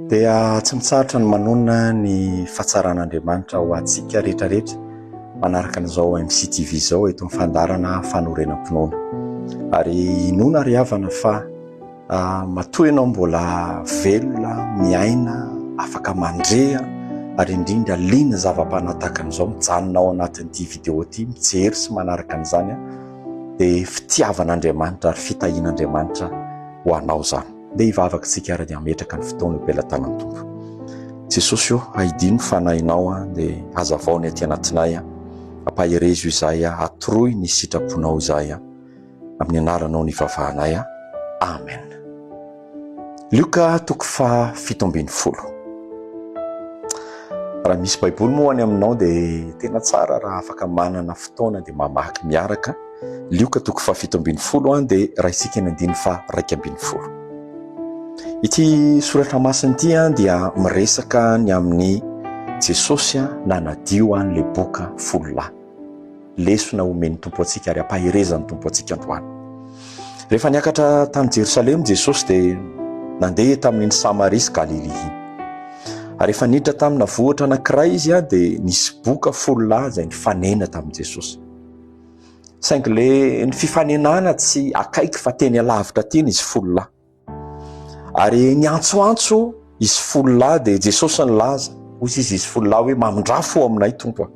Dia tsy mitsarotra ny manonona ny fahatsaran'Andriamanitra ho antsika rehetra rehetra manaraka an'izao MCTV izao eto amin'ny fandarana fanorenam-pinoana. Ary inoana ry havana fa ah, matoa ianao mbola velona, miaina, afaka mandre ary indrindra liana zava-panahy tahaka an'izao mijanona ao anatin'ity vidéo ity mijery sy manaraka an'izany dia fitiavan'Andriamanitra ary fitahian'Andriamanitra ho anao izany. Ndeha hivavaka isika ary dia hametraka ny fotoana eo am-pelatanan'ny Tompo. Jesosy ô, ahidio ny fanahinao aho, dia hazavao ny aty anatinay aho. Ampaherezo izahay aho, atoroy ny sitraponao izahay aho. Amin'ny anaranao no ivavahanay aho. Amen. Lioka toko faha fito ambin'ny folo. Raha misy baiboly moa any aminao dia tena tsara raha afaka manana fotoana dia mamaky miaraka. Lioka toko fahafito ambin'ny folo an dia raisika ny andininy faha raika ambin'ny folo. Ity soratra masina ity an dia miresaka ny amin'ny Jesosy an nanadio an le boka folo lahy. Lesona omen'ny Tompo antsika ary ampaherezan'ny Tompo antsika androany. Rehefa niakatra tany Jerosalema Jesosy dia nandeha tamin'iny Samaria sy Galilia iny. Ary efa niditra tamina vohitra anankiray izy an dia nisy boka folo lahy izay nifanena tamin'i Jesosy. Saingy le ny fifanenana tsy akaiky fa teny alavitra teny izy folo lahy. Ary niantsoantso izy folo lahy dia Jesosy nilaza, hoy izy izy folo lahy hoe mamindrà fo aminay Tompo a.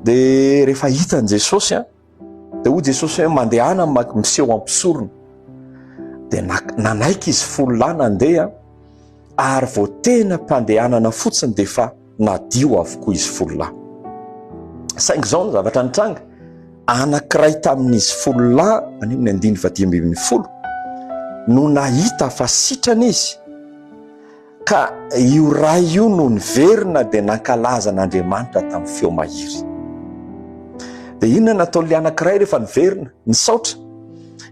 Dia rehefa hitan'i Jesosy a, dia hoy Jesosy hoe mandehana miseho am-pisorona. Dia nanaiky izy folo lahy nandeha ary vao tena am-pandehanana fotsiny dia efa nadio avokoa izy folo lahy. Saingy izao ny zavatra nitranga, anankiray tamin'izy folo lahy, any amin'ny andininy faha dimy ambin'ny folo, no nahita fa sitrana izy, ka io ray io no niverina dia nankalaza an'Andriamanitra tamin'ny feo mahery. Dia inona nataon'ilay anankiray rehefa niverina? Nisaotra,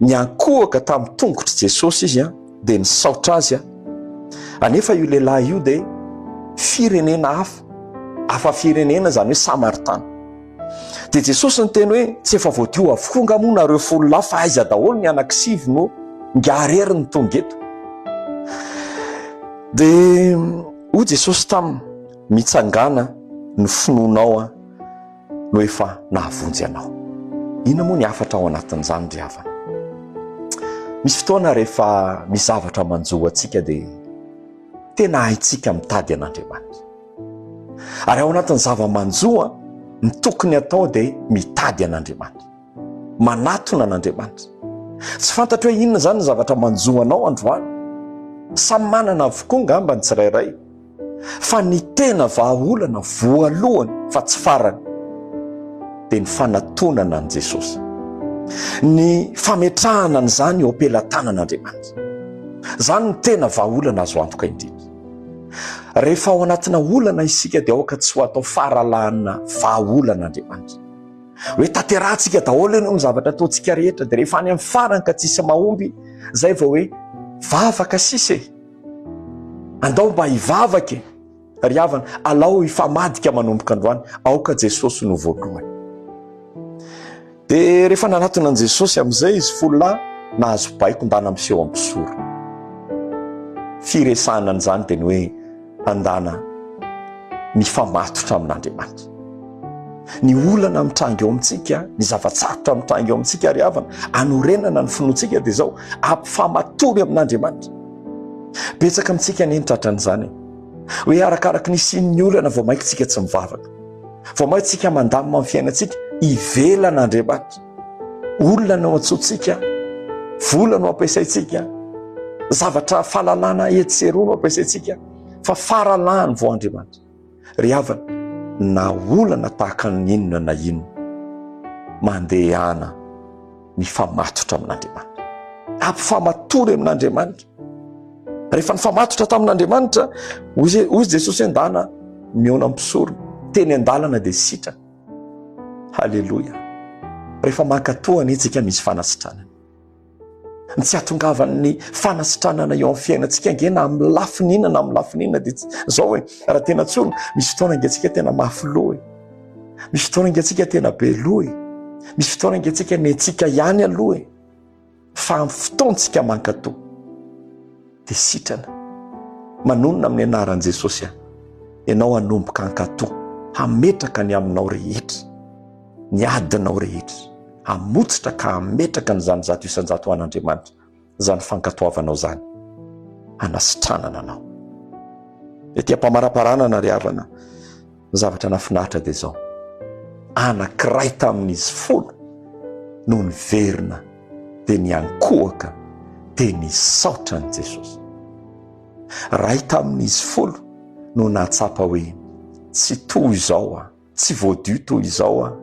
niankohoka tamin'ny tongotr'i Jesosy izy an! dia nisaotra azy aho. Anefa io lehilahy io dia firenena hafa, hafa firenena izany hoe Samaritana. Dia Jesosy niteny hoe tsy efa voadio avokoa nga moa nareo folo lahy fa aiza daholo ny anakisivy no nga rery ny tonga eto. Dia hoy Jesosy taminy mitsangana ny finoanao an. no efa nahavonjy anao. Inona moa ny hafatra ao anatin'izany ry havana? Misy fotoana rehefa misy zavatra manjo antsika dia tena haintsika mitady an'Andriamanitra. Ary ao anatin'ny zava-manjoa, ny tokony atao dia mitady an'Andriamanitra, manatona an'Andriamanitra. Tsy fantatro hoe inona izany ny zavatra manjo anao androany. Samy manana avokoa angamba ny tsirairay. fa ny tena vahaolana voalohany fa tsy farany dia ny fanatonana an'i Jesosy, ny fametrahana an'izany eo am-pelatanan'Andriamanitra. Izany no tena vahaolana azo antoka indrindra. Rehefa ao anatina olana isika dia aoka tsy ho atao faralahana vahaolan'Andriamanitra. Hoe tanterahantsika daholo anie ny zavatra ataontsika rehetra dia rehefa any amin'ny farany ka tsisy mahomby izay vao hoe vavaka sisa e! Andao mba hivavaka e, ry havana, alao hifamadika manomboka androany, aoka Jesosy no voalohany. Dia rehefa nanatona an'i Jesosy amin'izay izy folo lahy, nahazo baikon-dana miseho am-pisoro. Firesahana an'izany dia ny hoe andana mifamatotra amin'Andriamanitra. Ny olana mitranga eo amintsika, ny zava-tsarotra mitranga eo amintsika, ry havana, anorenana ny finoantsika dia izao, ampifamatory amin'Andriamanitra. Betsaka amintsika anie ny tratran'izany e! Hoe arakaraky ny hisian'ny olana vao mainka tsika tsy mivavaka, vao mainka tsika mandamina ny fiainantsika ivelana Andriamanitra. Olona no antsointsika, vola no ampiasaintsika, zavatra fahalalana etsy sy eroa no ampiasaintsika fa faralahany vao Andriamanitra. Ry havana, na olana tahaka ny inona na inona, mandehana mifamatotra amin'Andriamanitra. Ampifamatory amin'Andriamanitra. Rehefa nifamatotra tamin'Andriamanitra, hoy Jesosy an-dana mihaona mpisorona, teny an-dalana dia sitrana. Haleloia. Rehefa mankatoa anie isika misy fanasitranana. Ny tsy hahatongavan'ny fanasitranana eo amin'ny fiainantsika ange na amin'ny lafiny inona na amin'ny lafiny inona dia izao e, raha tena tsorina, misy fotoana ange antsika tena mafy loha e, misy fotoana ange antsika tena be loha e, misy fotoana ange antsika nentsika ihany aloha e, fa amin'ny fotoantsika mankatò. dia sitrana manonona amin'ny anaran'i Jesosy aho, ianao hanomboka hankato, hametraka ny aminao rehetra, ny adinao rehetra, hamotsitra ka hametraka an'izany zato isan-jato an'Andriamanitra, izany fankatoavanao izany, hanasitranana anao. Ety am-pamaraparanana ry havana, Ny zavatra nahafinaritra dia izao, anankiray tamin'izy folo no niverina dia niankohoka dia nisaotra an'i Jesosy. Iray tamin'izy folo no nahatsapa hoe tsy toy izao aho, tsy voadio toy izao aho,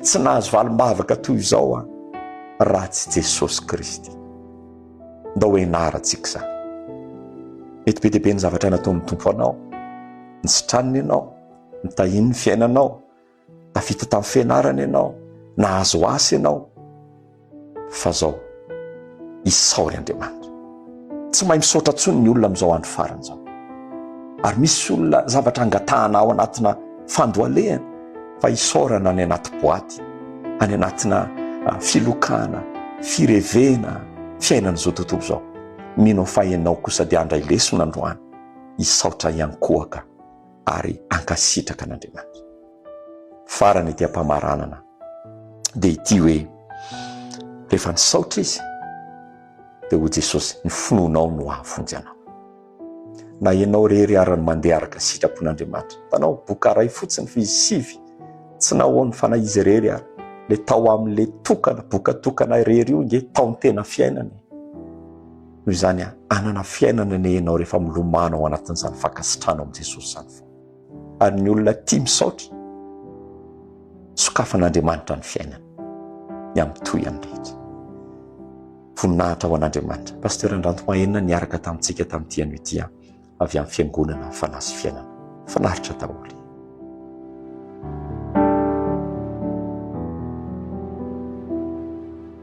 tsy nahazo valim-bavaka toy izao aho raha tsy Jesosy Kristy. Ndao ho ianarantsika izany. Mety be dia be ny zavatra nataon'ny Tompo ho anao, ny sitraniny ianao, ny tahian'ny fiainanao, tafita tamin'ny fianarana ianao, nahazo asa ianao, fa zao, isaory Andriamanitra. Tsy mahay misaotra intsony ny olona amin'izao andro farany izao. Ary misy olona zavatra angatahanao anatina fandohalehana, fa hisaorana any anaty boaty, any anatina filokana, firevena fiainan'izao tontolo izao. Mino aho fa ianao kosa dia handray lesona androany. Hisaotra hiankohoka ary hankasitraka an'Andriamanitra. Farany ity am-pamaranana dia ity hoe rehefa nisaotra izy dia ho Jesosy ny finoanao no hahavonjy anao. Na ianao irery ara ny mandeha araka sitrapon'Andriamanitra. Hitanao, boka iray fotsiny fa izy sivy, tsy nahoan'ny fanahy izy irery ary. Le tao amin'le tokana, boka tokana irery io nge tao ny tena fiainana e. Noho izany an, hanana fiainana anie ianao rehefa milomano ao anatin'izany fankasitrahana ao amin'i Jesosy izany foana. Ary ny olona tia misaotra, sokafan'Andriamanitra ny fiainany, ny amin'ny tohiny rehetra. Voninahitra ho an'Andriamanitra. Pasteur Andranto Mahenina niaraka tamintsika tamin'ity anio ity an, avy amin'ny fiangonana Fanahy sy Fiainana. Finaritra daholo.